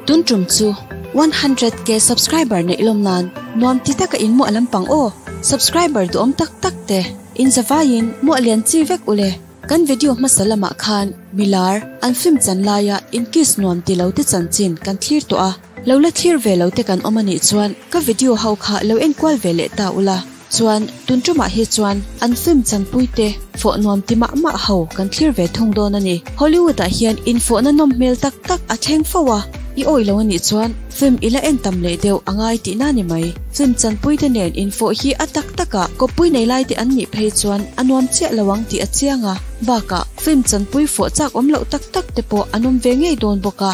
Tun tum chu one hundred K subscriber neih lawm nan nuam ti taka in muah lampang aw subscriber duhawm tak tak te in za vai in muah lian chi vek ule kan video hmasa lamah khan milar an film chan laia in kiss nuam ti lo te chanchin kan thlir tawh a. Lo la thlir ve lo te kan awm a nih chuan ka video ho kha lo enkual ve leh ta ula, chuan tun tumah hi chuan an film chanpui te fawh nuam ti mah mah ho kan thlir ve thung dawn a ni. Hollywood ah hian infawhna nawm hmel tak tak a thleng fo a, i awih lo a nih chuan film i la en tam leh deuh a ngai tih na ni mai. Film chanpui te nen infawh hi a tak tak a, kawppui nei lai te an nih phei chuan a nuam chiah lo ang tih a chiang a, bakah film chanpui fawh chak awm loh tak tak te pawh an awm ve ngei dawn bawk a.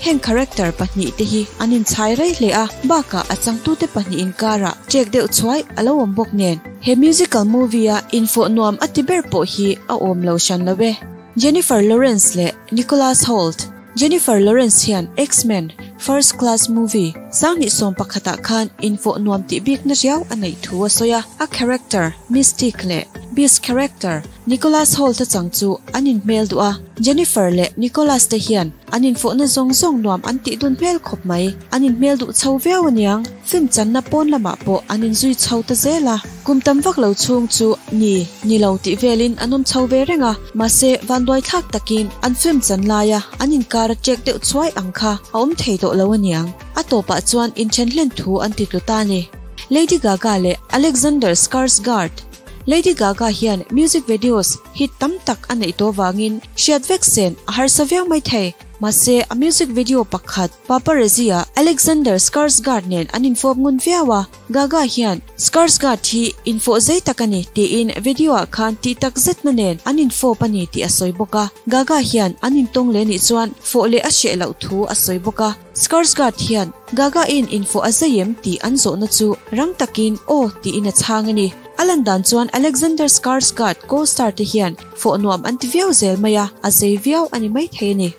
Heng character pahnih te hi an in chhai rei hle a, bakah a changtu te pahnih in kar ah chek deuh chhuai a lo awm bawk nen. He musical movie a infawh nuam a ti ber pawh hi a awm lo hran lo e. Jennifer Lawrence leh Nicholas Hoult, Jennifer Lawrence hian X-Men, First Class Movie, sang hnih sawm pakhat ah khan infawh nuam tih bikna riau a neih thu a sawi a, a character Mystique leh Beast character, Nicholas Holt a chang chu an in hmel duh a, Jennifer leh Nicholas te hian an in fawhna zawng zawng nuam an tih dun hmel khawp mai. An in hmel duh chho viau a niang, film channa pawn lamah pawh an in zui chho ta zel a, kum tam vak lo chhung chu ni ni lo tih velin an awm chho ve reng a, mahse vanduai thlak takin an film chan laia an in kar a ṭek deuh chuai ang kha a awm thei tawh lo a niang. A tawpah chuan in then hlen thu an ti tlu ta a ni. Lady Gaga leh Alexander Skarsgard. Lady Gaga hian music videos hit tam tak a neih tawh vangin hriat vek sen a harsa viau mai thei. Mahse, a music video pakhat paparazzi a Alexander Skarsgård nen an infawp ngun viau a. Gaga hian Skarsgård hi infawh zei tak a ni tiin video-ah khan tih takzetna nen an infawp a ni tih a sawi bawk a. Gaga hian an intawng leh nih chuan fawh leh a hreh loh thu a sawi bawk a. Skarsgård hian Gagain in fawh a zai em tih an zawhna chu rang takin aw tiin a chhang a ni. A lan dan chuan Alexander Skarsgård co-star te hian fawh nuam an ti viau zel mai a, a zai viau a ni maithei a ni.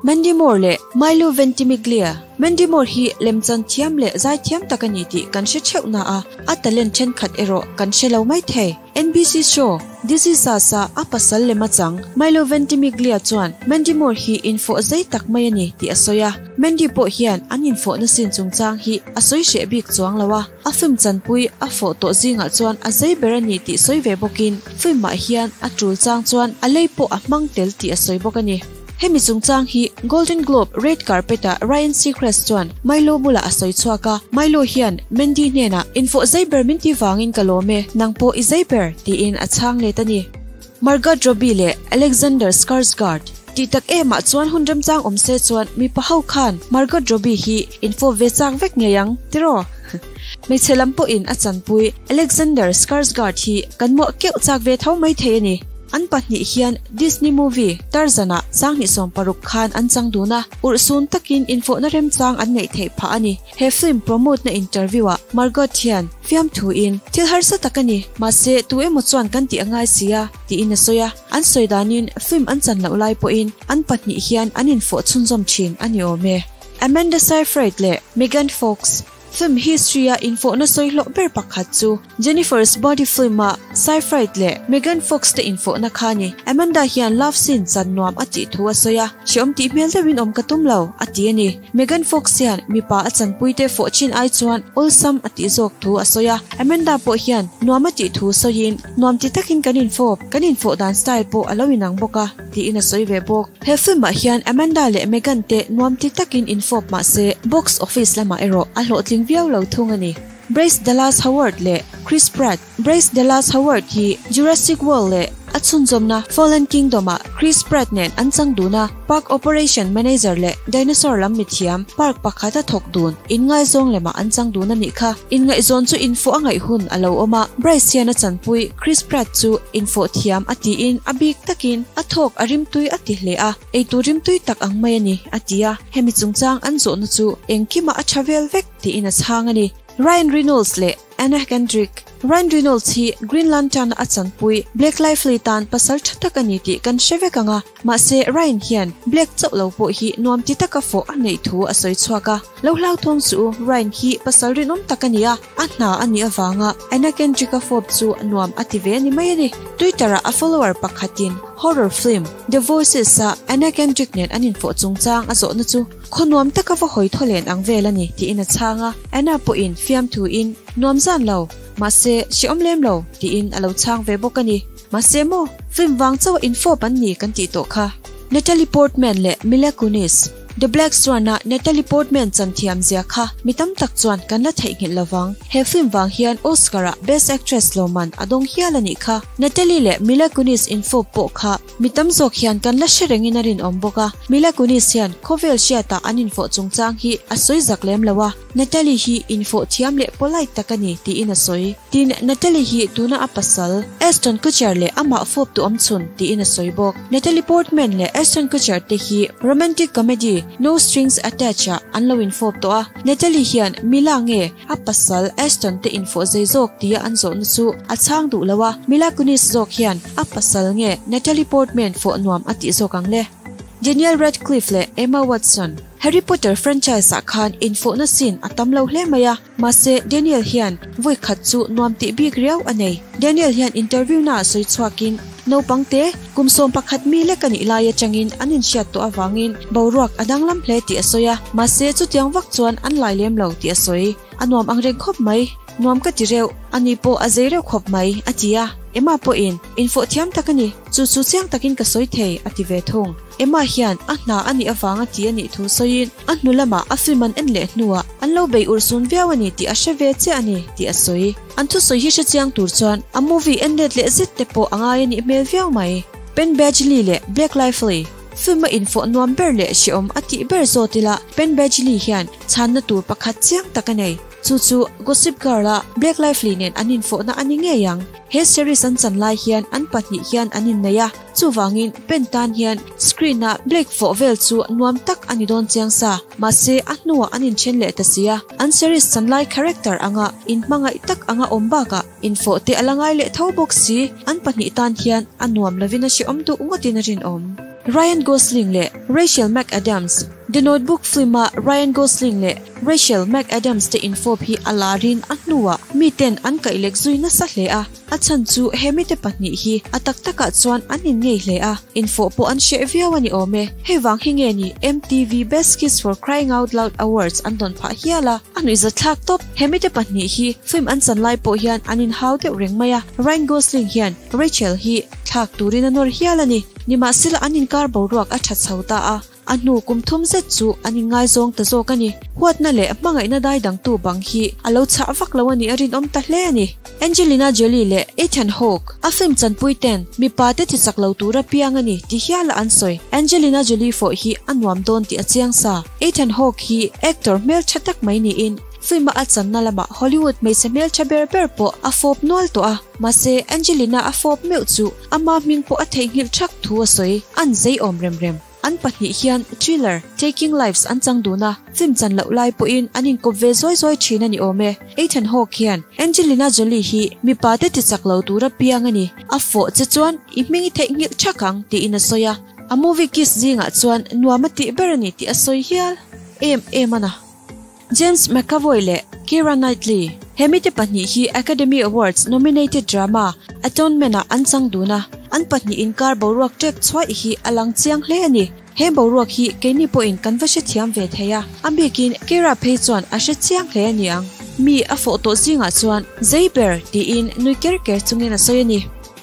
Mandy Moore leh Milo Ventimiglia, Mandy Moore hi lem chan thiam leh zai thiam tak a ni tih kan hre theuh na a, a talent thenkhat erawh kan hre lo maithei. NBC Show, Diseases a a pasal lem a chang. Milo Ventimiglia chuan Mandy Moore hi infoh zei tak mai a ni tih a sawi a, Mandy pawh hian an infoh nasin chungchang hi a sawi hreh bik chuang lo a, a film chanpui a foh tawh zingah chuan a zei ber a ni tih sawi ve bawkin film-ah hian a tul chang chuan a lei pawh a hmang tel tih a sawi bawk a ni. Hemi chungchang hi Golden Globe Red Carpet-ah Ryan Seacrest chuan Milo bulah a sawi chhuak a, Milo hian Mandy hnenah, In fawh zei ber min ti vangin ka lawm e, nang pawh i zei ber? tiin a chhang let a ni. Margot Robbie leh Alexander Skarsgard tih tak emah chuan hun remchang awm se chuan mipa ho khan Margot Robbie hi in fawh ve chak vek ngei ang tiraw? Hmeichhe lam pawhin a chanpui Alexander Skarsgård hi kan muah keuh chak ve tho mai thei a ni. An pahnih hian Disney movie Tarzan-a sanghnih sawm paruk khan an chang dun a, urhsun takin infawhna remchang an neih theih phah a ni. He film promote-na interview-ah Margot hian fiam thuin, Thil harsa tak a ni, mahse tu emaw chuan kan tih a ngai si a, tiin a sawi a. An sawi danin film an chan loh lai pawhin an pahnih hian an infawh chhunzawm thin a ni awm e. Amanda Seyfried leh Megan Fox Film history-a infohna sawi hlawh ber pakhat chu Jennifer's Body film-a Seyfried leh Megan Fox-te infohna kha a ni. Amanda hian love scene chan nuam a tih thu a sawi a, Hrehawm tih hmel deuhin awm ka tum lo, a ti a ni. Megan Fox hian mipa a chanpuite fawh chin ai chuan awlsam a tih zawk thu a sawi a, Amanda pawh hian nuam a tih thu sawiin, Nuam ti takin kan infawp, kan infoh dan style pawh a lo inang bawk a. tiin a sawi ve bawk. He film ah hian Amanda leh Meghan te nuamtli takin in fawp mahse, box office lamah erawh a hlawhtling viau lo thung a ni. Bryce Dallas Howard leh Chris Pratt Bryce Dallas Howard hi Jurassic World leh a chhunzawmna Fallen Kingdom ah Chris Pratt nen an chang dun a, Park Operation Manager leh Dinosaur lam mithiam park pakhat a thawk dun in ngaizawng lemah an chang dun a nih kha. Inngaihzawn chu infuah a ngaih hun a lo awm a, Bryce hian a chanpui. Chris Pratt chu infawh thiam a tiin a bik takin a thawk a rimtui a ti hle a, eitur rimtui tak ang mai a ni a ti a, hemi chungchang an zawhna chu engkima a tha vel vek tiin a chhang a ni. Ryan Reynolds leh Anna Kendrick, Ryan Reynolds hi Green Lantern-a a chanpui Black Lively tan pasal tha tak a ni tih kan hre vek ang a, Mahse, Ryan hian Black chauh lo pawh hi nuam ti taka fawh a neih thu a sawi chhuak a. Lo hlauthawng chu Ryan hi pasal rinawm tak a ni a, a hna a nih avanga Anna Kendrick-a fawp chu nuam a ti ve a ni mai a ni. Twitter-ah a follower pakhatin horror film The Voices-a Anna Kendrick nen an infawh chungchang a zawhna chu khaw nuam taka va hawi thaw len ang vel a ni tiin a chhang a. Anna pawhin fiamthuin, Nuam zan lo, mahse, hreawm lem lo, tiin a lo chhang ve bawk a ni. Mahse maw, film vang chauh infawp an ni kan tih tawh kha. Natalie Portman leh Mila Kunis, The Black Swan-a Natalie Portman chan thiam zia kha mi tam tak chuan kan la theihnghilh lo vang. He film vang hian Oscar-ah Best Actress lawmman a dawng hial a nih kha. Natalie leh Mila Kunis infawp pawh kha mi tam zawk hian kan la hre rengin a rinawm bawk a. Mila Kunis hian khawvel hriatah an infawh chungchang hi a sawi zak lem lo a. Natalie hi infawh thiam leh polite tak a ni, tiin a sawi. Tin, Natalie hi tuna a pasal, Ashton Kutcher leh amah fawp tuam chhun, tiin a sawi bawk. Natalie Portman leh Ashton Kutcher te hi romantic comedy No Strings Attached ah an lo infawp tawh a. Natalie hian Mila nge a pasal Ashton te infawh zei zawk tia an zawhna chu a chhang duh lo a, Mila Kunis zawk hian a pasal nge Natalie Portman fawh nuam a tih zawk ang le. Daniel Radcliffe leh Emma Watson, Harry Potter franchise-ah khan infawhna scene a tam lo hle mai a, mahse Daniel hian vawi khat chu nuam tih bik riau a nei. Daniel hian interview-na ah sawi chhuakin, Naupangte, kum sawm pakhat mi lek a nih lai atangin an inhriat tawh avangin boruak a danglam hle tih a sawi a, mahse chutiang vak chuan an lai lem lo tih a sawi. A nuam ang reng khawp mai. Nuam ka ti reuh. Ani pawh a zei reuh khawp mai, a ti a. Emma pawhin, Infawh thiam tak a ni. Chu chu chiang takin ka sawi thei, a ti ve thung. Emma hian a hna a nih avanga ti a nih thu sawiin, a hnu lamah a film an en leh hnuah an lo bei ur sun viau a ni tih a hre ve chiah a ni, tih a sawi. An thusawi hi hre chiang tur chuan a movie en let leh zet te pawh a ngai a nih hmel viau mai. Penn Badgley leh Blake Lively film a infawh nuam ber leh hreawm a tih ber zawt ila Penn Badgley hian chhanna tur pakhat chiang tak a nei. Chu chu Gossip Girl a Blake Lively nen an infawhna a ni ngei ang. He series an chan lai hian an pahnih hian an innei a, chuvangin pen tan hian screen ah Blake fawh vel chu nuam tak a ni dawn chiang sa. Mahse a hnuah an inthen leh ta si a, an series chan lai character anga inhmangaih tak anga awm bakah, Infawhte a la ngai leh tho bawk si. An pahnih tan hian a nuam lovin a hrehawm duh ngawtin a rinawm. Ryan Gosling leh Rachel McAdams The Notebook film-a Ryan Gosling leh Rachel McAdams te infawp hi a larin a hnua miten an kaih lek zui nasa hle a. A chhan chu he mite pahnih hi a tak takah chuan an inngeih hle a, infawh pawh an hreh viau a ni awm e. Hei vang hi nge ni MTV Best Kiss for Crying Out Loud Awards an dawn phah hial a, a nuihzat thlak tawp. He mite pahnih hi film an chan lai pawh hian an inhau deuh reng mai a, Ryan Gosling hian Rachel hi thlak turin a nawr hial a ni. Nimahsela an inkar boruak a tha chho ta a, a hnu kum thum zet chu an inngaizawng ta zawk a ni. Huatna leh hmangaihna dai dangtu bang hi a lo chah vak lo a nih a, rinawm ta hle a ni. Angelina Jolie leh Ethan Hawke, a film chanpuite'n mipa te chi chak lo tura piang a ni ti hiala an sawi. Angelina Jolie fawh hi a nuam dawn tih a chiang sa. Ethan Hawke hi actor hmeltha tak mai niin, film-a a channa lamah Hollywood hmeichhe hmeltha ber ber pawh a fawp nual tawh a. Mahse, Angelina a fawp meuh chu, ama hming pawh a theihnghilh ṭhak thu a sawi. An zei awm rem rem. An pahnih hian Thriller, Taking Lives an chang dun a, film chan loh lai pawhin an inkawp ve zawi zawi thin a ni awm e. Ethan Hawke hian Angelina Jolie hi mipa te ti chak lo tur a piang a ni. A fawh che chuan i hming i theih nghilh ṭhak ang tiin a sawi a. A movie Kiss zingah chuan nuam a tih ber a ni tih a sawi hial em em a na. James McAvoy leh Keira Knightley, hemi te pahnih hi Academy Awards nominated drama Atonement-ah an chang dun a, an pahnih inkar boruak ṭek chuai hi a lang chiang hle a ni. He boruak hi keini pawhin kan va hrethiam ve thei a, a bikin Keira phei chuan a hre chiang hle a ni ang. Mi a fawh tawh zingah chuan zei ber? tiin nui ker ker chungin a sawi a ni.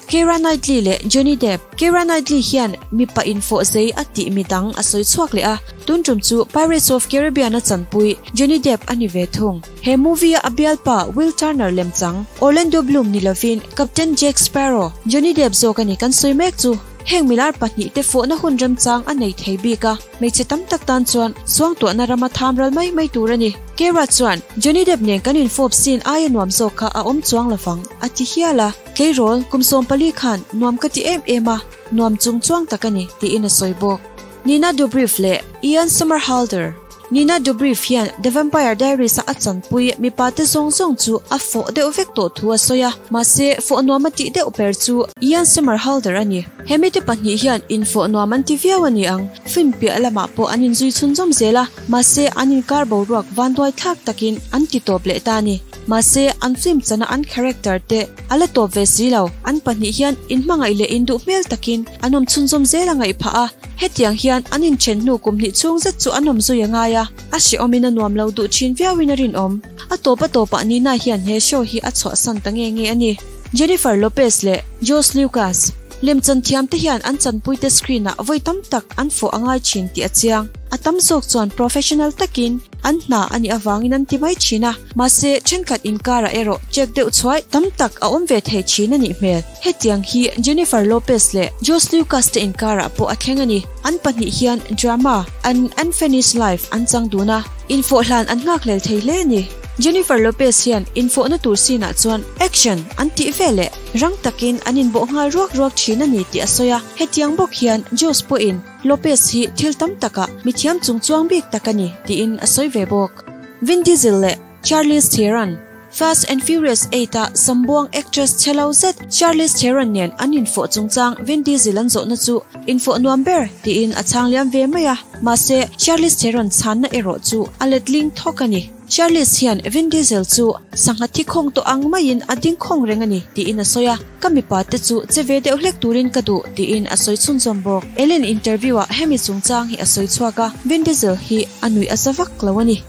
Keira Knightley leh Johnny Depp, Keira Knightley hian mipa infawhzei a tih mi dang a sawi chhuak leh a, tun tum chu Pirates of Caribbean a chanpui Johnny Depp a ni ve thung. He movie-a a bialpa Will Turner lem chang Orlando Bloom ni lovin Captain Jack Sparrow Johnny Depp zawk a ni kan sawi mek chu. Heng milar pahnih te fawhna hun remchang a nei thei bik a, hmeichhe tam tak tan chuan suangtuahna ram a tham ral mai mai tur a ni. Keira chuan Johnny Depp nen kan infawp scene aia nuam zawk kha a awm chuang lovang a ti hial a. Keirawlh kum sawm pali khan nuam ka ti em em a, nuam chung chuang tak a ni, tiin a sawi bawk. Nina Dobrev leh Ian Somerhalder. Nina Dobrev hian The Vampire Diaries-a a chanpui mipate zawng zawng chu a fawh deuh vek tawh thu a sawi a, mahse fawh nuam a tih deuh ber chu Ian Somerhalder a ni. He mite pahnih hian infawh nuam an ti viau a ni ang, film piah lamah pawh an inzui chhunzawm zel a, mahse an inkar boruak vanduai thlak takin an ti tawp leh ta a ni. Mahse, an film chana an character te a la tawp ve si lo. An pahnih hian in hmangaih leh in duh hmel takin an awm chhunzawm zel a ngaih phah a. Hetiang hian an inthen hnu kum hnih chhung zet chu an awm zui a ngai a, a hrehawmin a nuam lo duh thin viau in a rinawm. A tawpa tawpah nihna hian he show hi a chhuahsan ta nge nge a ni. Jennifer Lopez leh George Lucas. Lem chan thiam te hian an chanpui te screen ah vawi tam tak an fawh a ngai thin tih a chiang. A tam zawk chuan professional takin an hna a nih avangin an ti mai thin a, mahse thenkhat inkar ah erawh check deuh chhuai tam tak a awm ve thei thin a nih hmel. Hetiang hi Jennifer Lopez leh Josh Lucas te inkar ah pawh a thleng a ni. An pahnih hian drama An Unfinished Life an chang dun a, infawh hlan an nghak lel thei hle a ni. Jennifer Lopez hian infawhna tur scene ah chuan action an tih veleh. Rang takin an inbawh nghal ruak ruak thin a ni tih a sawi a. Hetiang bawk hian Jose pawhin Lopez hi thil tam takah mithiam chung chuang bik tak a ni tiin a sawi ve bawk. Vin Diesel leh Charlize Theron, Fast and Furious Eight a sambuang actress chelo zet Charlize Theron nen an infawh chungchang Vin Diesel an zawhna chu infawh nuam ber tiin a chhang liam ve mai a. Mahse, Charlize Theron chhanna erawh chu a letling thawk a ni. Charles hian Vin Diesel chu sangha thikhawng tawh ang maiin a dingkhawng reng a ni, tiin a sawi a. Ka mipa te chu che ve deuh hlek turin ka duh, tiin a sawi chhunzawm bawk. Ellen interview-ah hemi chungchang hi a sawi chhuak a, Vin Diesel hi a nuih a sa vak lo a ni.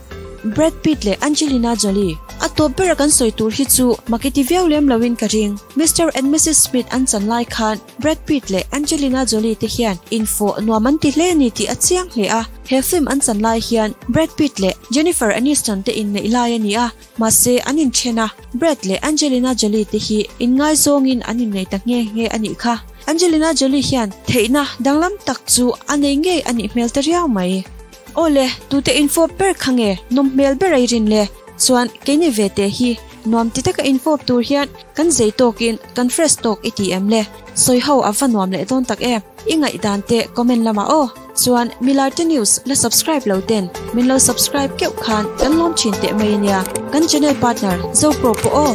Brad Pitt leh Angelina Jolie a tawp bera kan sawi tur hi chu maki ti viau lem loin ka ring. Mister and Missis Smith an chan lai khan Brad Pitt leh Angelina Jolie te hian infawh nuam an ti hle a ni tih a chiang hle a. He film an chan lai hian Brad Pitt leh Jennifer Aniston te inneih lai a ni a, mahse an inthen a. Brad leh Angelina Jolie te hi inngaizawngin an innei ta nghe nghe a nih kha. Angelina Jolie hian theihna danglam tak chu a nei ngei a nih hmel ta riau mai. Aw le, tute infawp ber kha nge nawm hmel ber airin le chuan keini ve te hi nuam ti taka infawp tur hian Kan zei tawkin kan fresh tawk i ti em le? Sawi ho a va nuam leh dawn tak e. I ngaihdan te comment lamah aw. Chuan Milarte News la subscribe lo ten min lo subscribe keuh khan kan lawm thin teh mai a nia. Kan channel partner Zopro pawh aw.